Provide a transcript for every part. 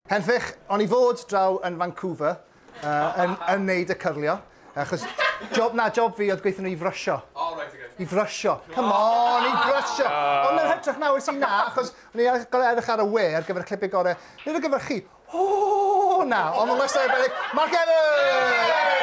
Henffych, on i fod draw yn Vancouver yn yn neud y cyrlio, achos job na job fi oedd gweithio nhw i frysio. O reit oce. I frysio. Come on, i frysio! Ond yn hytrach na wnes i na, achos o'n i ar- gor'o' edrych ar y we ar gyfer y clipe gore', nid ar gyfer chi, ooh na, ond ma' wastad arbennig, Mark Evans!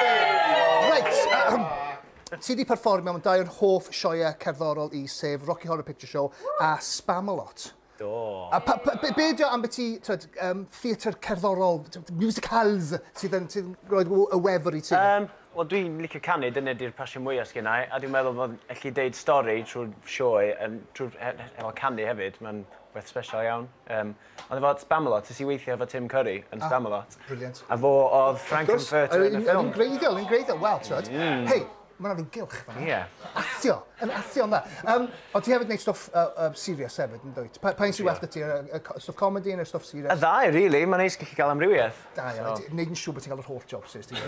Reit, ti 'di perfformio mewn dau o'n hoff sioeau cerddorol i, sef Rocky Horror Picture Show a Spamalot. Do. A pa, pa, be, be dio ambiti, twed, um, theatr cerddorol, musicals, sydd yn, sydd yn roed y wefr i ti? Um, Wel, dwi'n licio canu, dyna di'r passion mwyaf sgyn i, a dwi'n meddwl bod allu deud stori trwy'r sioe, um, trwy'r efo canu hefyd, mae'n beth special iawn. Um, ond efo Spamalot, nes i weithio efo Tim Curry yn ah, Spamalot. Brilliant. A fo oedd Frank Furt yn y ffilm. Yn greiddiol, yn greiddiol, wel, twed. Mm. Hei, Mae yna rhyw gylch fanna. Ie. Athio! Yn athio'n dda. Um, ond ti hefyd wneud stwff uh, uh, serious hefyd, yn dweud? Pa, pa un sy'n well dy ti? Y stwff comedy neu'r stwff serious? Y ddau, really. Mae'n neis gallu cael amrywiaeth. Da, iawn. So. Wneud yn siŵr bod ti'n cael yr holl jobs, sy'n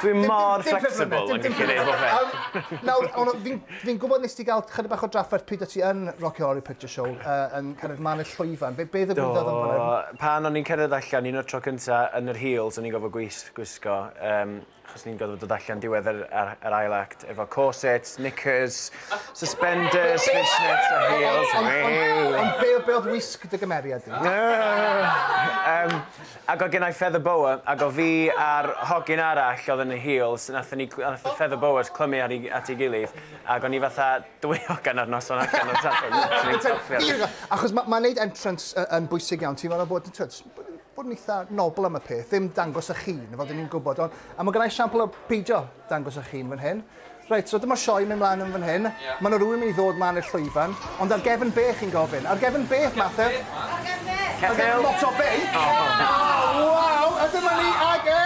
Dwi'n mor flexible yn gallu neud bob beth. Nawr, ond fi'n gwybod nes ti gael chyda bach o drafferth pryd o ti yn Rocky Horror Picture Show uh, yn cyrraedd man y llwyfan. Be, be ddigwyddodd yn fanna? Pan o'n i'n cyrraedd allan, un o'r tro cyntaf yn yr heels, o'n i'n gofod gwisgo. Um, achos ni'n gorfod dod allan diwedd yr, yr, yr ail act efo corsets, knickers, suspenders, fishnets a heels. Ond be, be oedd wisg dy gymeriad di? um, ac oedd gennau feather boa, ac o fi a'r hogyn arall oedd yn y heels, nath ni, nath y feather boas clymu ar at ei gilydd, ac o'n i fatha dwy hogan ar noson allan o'r safon. Achos mae'n ma neud entrance yn bwysig iawn, ti'n meddwl bod, bod yn eitha nobl am y peth, ddim dangos eich hun, fel dyn ni'n gwybod. Ond, a mae gennau siampl o peidio dangos eich hun fan hyn. Reit, so dyma sioe mynd mlaen yn fan hyn. Yeah. Mae yna rhywun mynd i ddod mlaen i'r llwyfan. Ond ar gefn be chi'n gofyn? Ar gefn be, Mathe? Ar gefn be? Ar gefn lot o be? Oh, oh. oh, wow! A dyma ni ag e!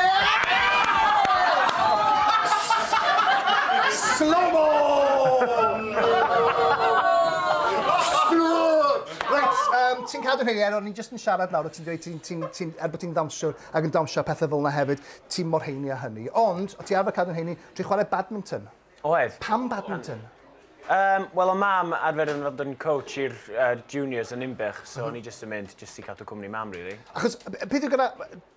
Slow-mo! Reit, um, ti'n cadw'n hynny, Ero, ni'n just siarad nawr a ti'n dweud ti'n, ti'n, ti'n, er bod ti'n dawnsio ac yn dawnsio pethau fel yna hefyd, ti'n mor heini a hynny. Ond, o ti arfer cadw'n heini, ti'n chwarae badminton. Oedd. Pam badminton? Um, Wel, o mam arfer yn fod yn coach i'r uh, juniors yn Inbych, so o'n i jyst yn mynd jyst i cadw cwmni mam, really. Achos, peth yw gyda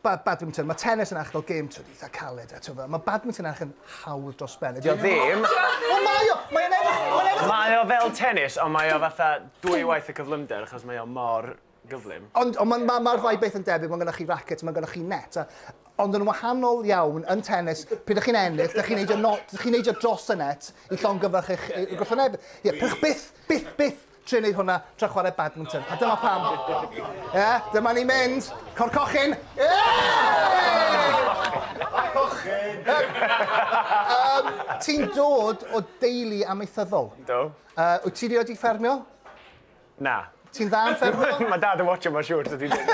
ba badminton, mae tennis yn eich fel gêm twyd eitha caled, a tyfa, mae badminton eich yn hawdd dros ben. Dio ddim. O, mae o! Mae o'n edrych... Mae o fel tennis, ond mae o fatha dwy waith y cyflymder, achos mae o mor gyflym. Ond ond ma'r ma'r ddau beth yn debyg, mae gennych chi racket, mae gennych chi net, ond yn wahanol iawn yn tennis, pryd ydych chi'n ennill, ydych chi'n neidio, ydych chi'n neidio dros y net i llongyfarch eich yeah, yeah. gwrthwyneb. Ie, yeah, pech byth, byth, byth trio wneud hwnna tra chwarae badminton. A dyma pam. Ie, yeah, dyma ni mynd. Cor cochyn. Ie! Cochyn! um, Ti'n dod o deulu amaethyddol? Do. Uh, wyt ti wedi ffermio? Na. Ti'n dda yn ffermio? Mae dad yn watsio mae'n siwr so dwi ddim.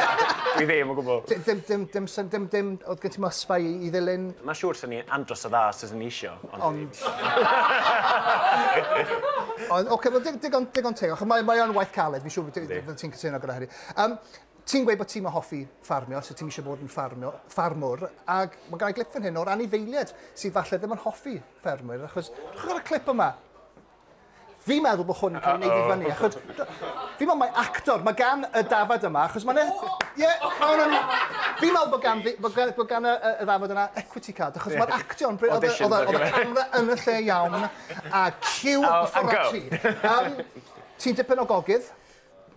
Dwi ddim o gwbl. Dim dim dim dim syn- dim dim o'dd gen ti mosba i i ddilyn? Mae'n siwr swn i'n andros o dda os taswn i isio ond... Ond... Ond ocê wel dig- digon digon teg achos mae mae o'n waith caled fi'n siwr fyddi fyddet ti'n cytuno gyda hynny. Yym ti'n gweud bod ti'm yn hoffi ffarmio so ti'm isio bod yn ffarmio ffarmwr ag ma' gynnai glip fan hyn o'r anifeilied sydd falle ddim yn hoffi ffermwyr achos chwara clip yma. Fi'n meddwl bod hwn yn cael ei wneud i fyny, achos... Fi'n meddwl mae actor, mae gan y dafod yma, achos mae'n... E- ie, mae hwnna'n... Fi'n meddwl bod gan, bod gan, bod gan y, y ddafod yna equity card, achos mae'r actio'n... bryd- Oedd y- Auditions oedd y- oedd y camera yn y lle iawn, a cue Oh, a go. ffordd ti. Um, ti'n dipyn o gogydd.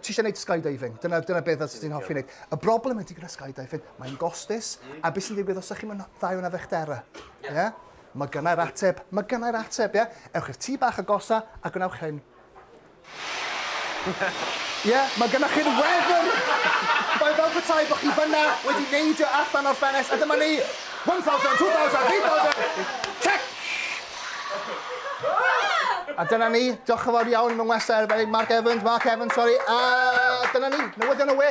ti eisiau gwneud skydiving, dyna, dyna beth os ti'n hoffi wneud. Y broblem ydy gyda skydiving, mae'n gostus, a beth sy'n digwydd os ydych chi'n dda iawn â fechdera? Ie? Yeah. Yeah? Mae gynnau'r ateb, mae gynnau'r ateb, ie? Yeah? Ewch i'r tŷ bach agosa a gwnewch hyn. Ie, yeah, mae gynnwch chi'r wefr! Mae'n fel petai bod chi fyna wedi neidio allan o'r ffenest, a dyma ni! 1,000, 2,000, 3,000! Check! A dyna ni, diolch yn fawr iawn i fy ngwestai arbennig Mark Evans, Mark Evans, sori, a dyna ni, newyddion y we!